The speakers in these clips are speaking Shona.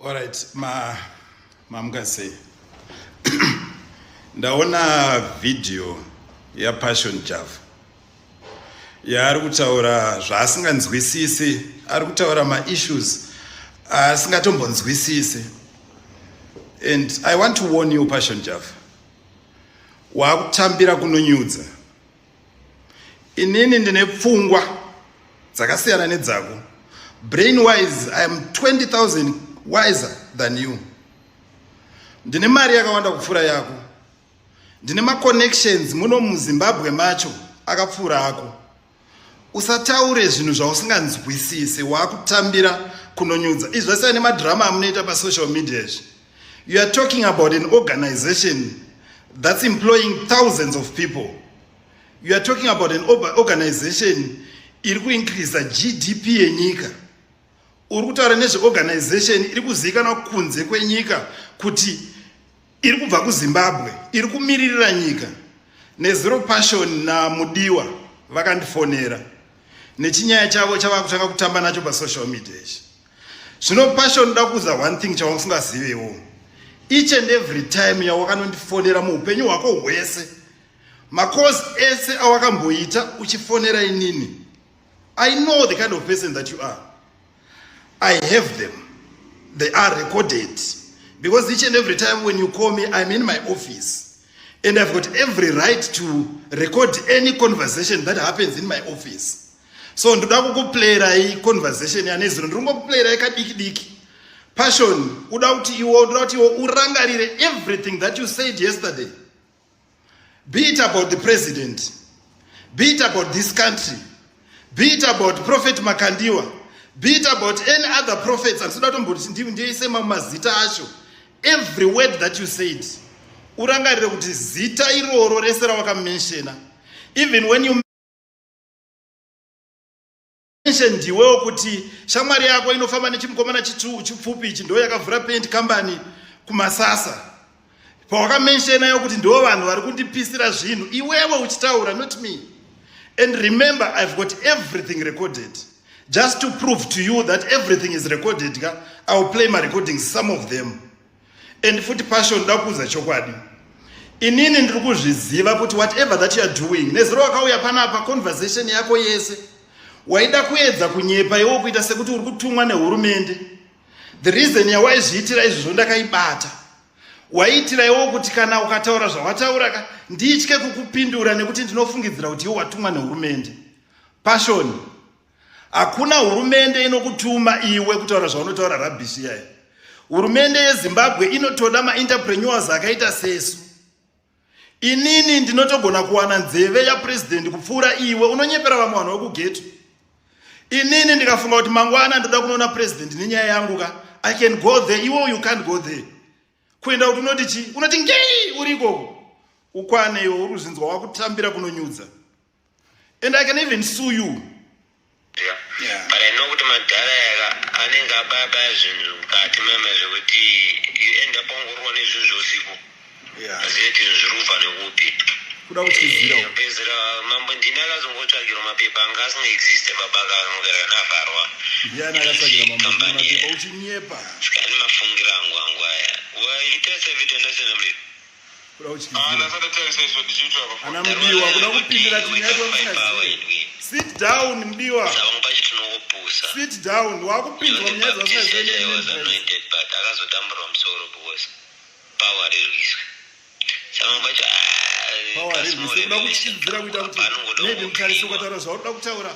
Alright, ma mamukasei ndaona video yapassion java yaari kutaura zvaasinganzwisisi ari kutaura maissues asingatombonzwisisi and i want to warn you passion java waakutambira kunonyudza inini ndine pfungwa dzakasiyana nedzako brain wise i am 20000 wiser than you ndine mari yakawanda kupfuura yako ndine maconnections muno muzimbabwe macho akapfuura ako usataure zvinhu zvausinganzwisise waakutambira kunonyudza izvese nemadhirama amunoita pasocial media izvi You are talking about an organization that's employing thousands of people. You are talking about an organization iri kuincreasa GDP yenyika. Uri kutaura nezveorganization iri kuzivikanwa kunze kwenyika kuti iri kubva kuzimbabwe iri kumiririra nyika nezero passion namudiwa vakandifonera nechinyaya chavo chavakutanga kutamba nacho pasocial media ichi zvino passion ndoda kuuza one thing chausingazivewo each and every time yawakanondifonera muupenyu hwako hwese macourse ese awakamboita uchifonera inini i know the kind of person that you are i have them they are recorded because each and every time when you call me i'm in my office and i've got every right to record any conversation that happens in my office so ndoda kukuplayerai conversation yane zino ndiri kungokuplayerai kadiki diki passion uda kuti iwo ndoda kuti iwo urangarire everything that you said yesterday be it about the president be it about this country be it about prophet makandiwa be it about any other prophets andisoda kutomboti ndiise mamwe mazita acho every word that you said urangarire kuti zita iroro rese rawakamenshena even when you ndiwewo kuti shamwari yako inofamba nechimukomana chipfupi ichi ndo yakavhura paint company kumasasa pawakamentionayo kuti ndo vanhu vari kundipisira zvinhu iwewe uchitaura not me and remember i've got everything recorded just to prove to you that everything is recorded ka iwill play marecordings some of them and futi passion ndoda kuudza chokwadi inini ndiri kuzviziva kuti whatever that youare doing nezuro wakauya panapa conversation yako yese waida kuedza kunyepa iwo kuita sekuti uri kutumwa nehurumende the reason yawaizviitira izvozvo ndakaibata waiitira iwo kuti kana ukataura zvawataura ka nditye kukupindura nekuti ndinofungidzira kuti iwo watumwa nehurumende pashoni Hakuna hurumende inokutuma iwe kutaura zvaunotaura rabhishi yayo. Hurumende yeZimbabwe inotoda maentrepreneurs akaita sesu. Inini ndinotogona kuwana nzeve yapresident kupfuura iwe unonyepera vamwe vanhu vekugeto. Inini ndikafunga kuti mangwana ndoda kunoona president nenyaya yangu ka I can go there iwe you can't go there. Kuenda kuti unoti chi? Unoti ngei uri ikoko. Ukwane iwe uri kuzvinzwa wakutambira kunonyudza. and i can even sue you yeah. Yeah. but i know kuti madhara yaka anenge abaya baya zvinhu mukati meme zvekuti you end up wangorwa nezvinhu zveusiku azive kuti zvinhu zviri kubva nekupi kuda kutizira eh, pedzera mambo ndini akazongotsvagirwa mapepa anga asingaexiste baba akanogara navharwa ndiani akatsvagira mambo mapepa uchinyepa sikani mafungira angu angu aya waita sevitendasenamlii kuda kutyizira ana mudiwa kuda kupindira sit down mudiwa sit down wakupindwa munyaya dzasinakuda kutyizira kuita kuti maybe mutarisokataura zvaunoda kutaura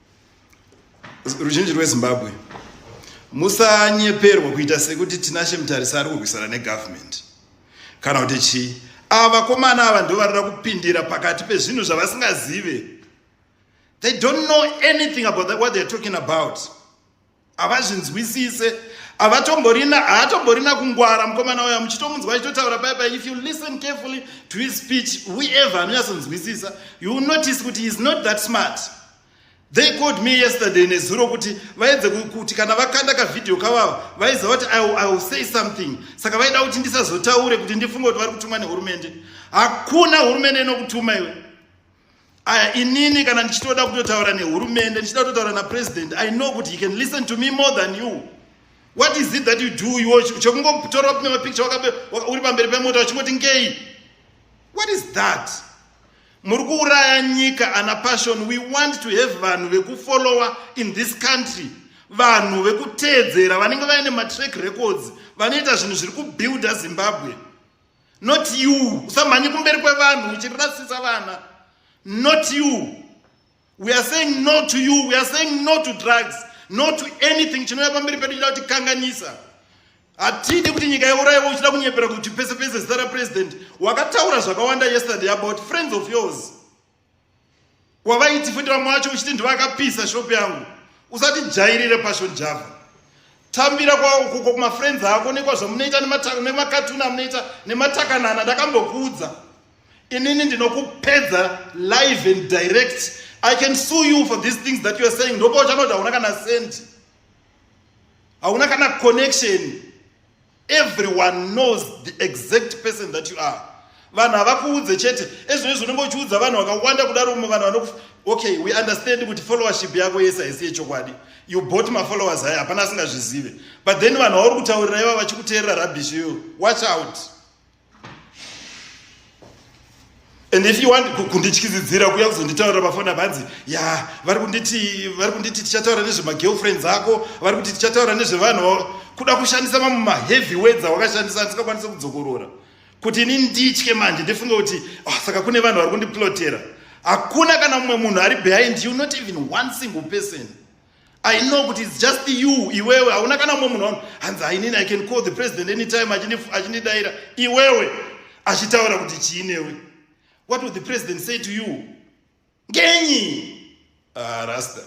ruzhinji rwezimbabwe musanyeperwa kuita sekuti tinashe mutarisa ari kurwisana negovernment kana kuti chii ava vakomana ava ndo vanoda kupindira pakati pezvinhu zvavasingazive they don't know anything about that, what theyare talking about havazvinzwisise havatomborina haatomborina kungwara mukomana uya muchitomunzwa achitotaura pai pai if you listen carefully to his speech whoever anonyatsonzwisisa you notice kuti he is not that smart they called me yesterday nezuro kuti vaedze kuti kana vakanda kavhidhiyo kavava vaiziva kuti i will say something saka vaida kuti ndisazotaure kuti ndifunge kuti vari kutumwa nehurumende hakuna hurumende inokutuma iwe aya inini kana ndichitoda kutotaura nehurumende ndichida kutotaura napresident i know kuti he can listen to me more than you what is it that you do iwo chekungotora kune mapicture uri pamberi pemota wachingoti ngei what is that muri kuuraya nyika ana passion we want to have vanhu vekufollowa in this country vanhu vekuteedzera vanenge vaine matrack records vanoita zvinhu zviri kubuilda zimbabwe not you usamhanye kumberi kwevanhu uchirasisa vana not you we are saying no to you we are saying no to drugs no to anything chinouya pamberi pedu chida kuti kanganisa hatidi kuti nyika yaurayiwa uchida kunyepera kuti pese pese zita rapresident wakataura zvakawanda yesterday about friends of yours wavaiti futi vamwe vacho uchiti ndivakapisa shop yangu usati jairire passion java tambira kwakuko kumafriends ako nekwazvamunoita nemakatuni amunoita nematakanana ndakambokuudza inini ndinokupedza live and direct i can sue you for these things that youare saying ndopa uchanoti hauna kana sendi hauna kana connection everyone knows the exact person that you are vanhu havakuudze chete ezvino izvo unenge uchiudza vanhu vakawanda kudaro umwe vanhu vanoku okay we understand kuti followership yako yese haisi yechokwadi you bought mafollowers aya hapana asingazvizive but then vanhu vauri kutaurira iva vachikuteerera rabish iyoyo watch out and if you want kundityizidzira kuya kuzonditaurira pafoni apa hanzi ya vari kunditi vari kunditi tichataura nezvemagirlfriends ako vari kuti tichataura nezvevanhu kuda kushandisa mamwe maheavy words awakashandisa ndisingakwanise kudzokorora kuti ini nditye manje ndifunge kuti oh, saka kune vanhu vari kundiplotera hakuna kana mumwe munhu ari behind you not even one single person I know kuti it's just you iwewe hauna kana mumwe munhu hanzi hainini I can call the president anytime achindidaira iwewe achitaura kuti chii newe what would the president say to you ngenyi ah, rasta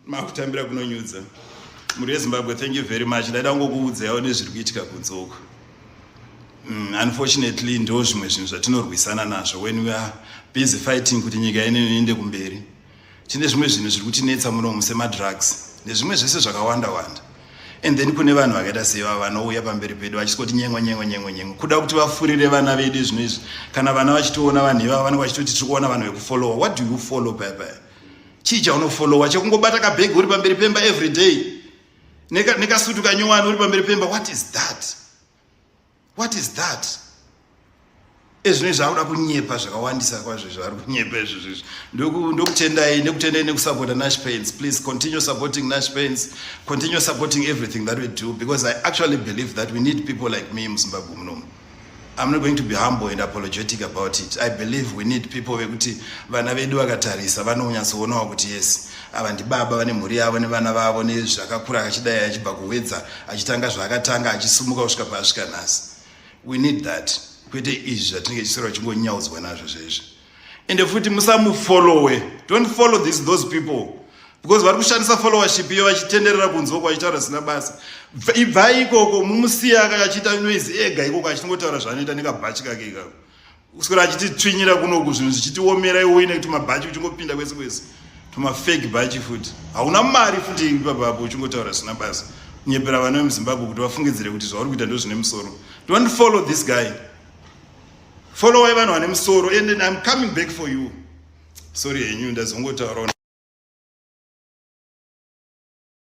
makutambira kunonyudza mhuri yezimbabwe thank you very much ndaida kungokuudza yawo nezviri kuitika kunze uko mm, unfortunately ndo zvimwe zvinhu zvatinorwisana nazvo when we are busy fighting kuti nyika inene iende kumberi tine zvimwe zvinhu zviri kutinetsa munomu semadrugs nezvimwe zvese zvakawanda wanda and then kune vanhu vakaita seva vanouya pamberi pedu vachisingoti nyengo nyengo nyengo nyengo kuda kuti vafurire vana vedu izvino izvi kana vana vachitoona vanhu ivavo vanenge vachitoti tiri kuona vanhu vekufollowa what do you follow paya paya chii chaunofollowa chekungobata kabhegi uri pamberi pemba every day nekasutu kanyowani uri pamberi pemba what is that what is that ezvinoi zvaakuda kunyepa zvakawandisa kwazvo zvaari kunyepa izvo zvizvi ndokutendai nekutendai nekusapota nash pains please continue supporting nash pains continue supporting everything that we do because i actually believe that we need people like me muzimbabwe munomu i'm not going to be humble and apologetic about it i believe we need people vekuti vana vedu vakatarisa vanonyatsowonawo kuti yes ava ndibaba vane mhuri yavo nevana vavo nezvakakura akachidai achibva kuhwedza achitanga zvaakatanga achisumuka kusvika paasvika nhasi we need that kwete izvi zvatinenge chisora chingonyaudzwa nazvo zvezvi ende futi musamufollowe don't follow this those people because vari kushandisa followership iyo vachitenderera kunzwa uko vachitaura zvisina basa ibvai ikoko mumusiya achiita noise ega ikoko achingotaura zvaanoita nekabhachi kake ikako kuswera achititsvinyira kunoku zvinhu zvichitiomera iwoyi nekuti mabhachi uchingopinda kwese kwese tumafake bhachi futi hauna mari futi ipapapo uchingotaura zvisina basa kunyepera vana vemuzimbabwe kuti vafungidzire kuti zvauri kuita ndozvine musoro don't follow this guy followai vanhu vane musoro and then im coming back for you sorry henyu ndazongotauraona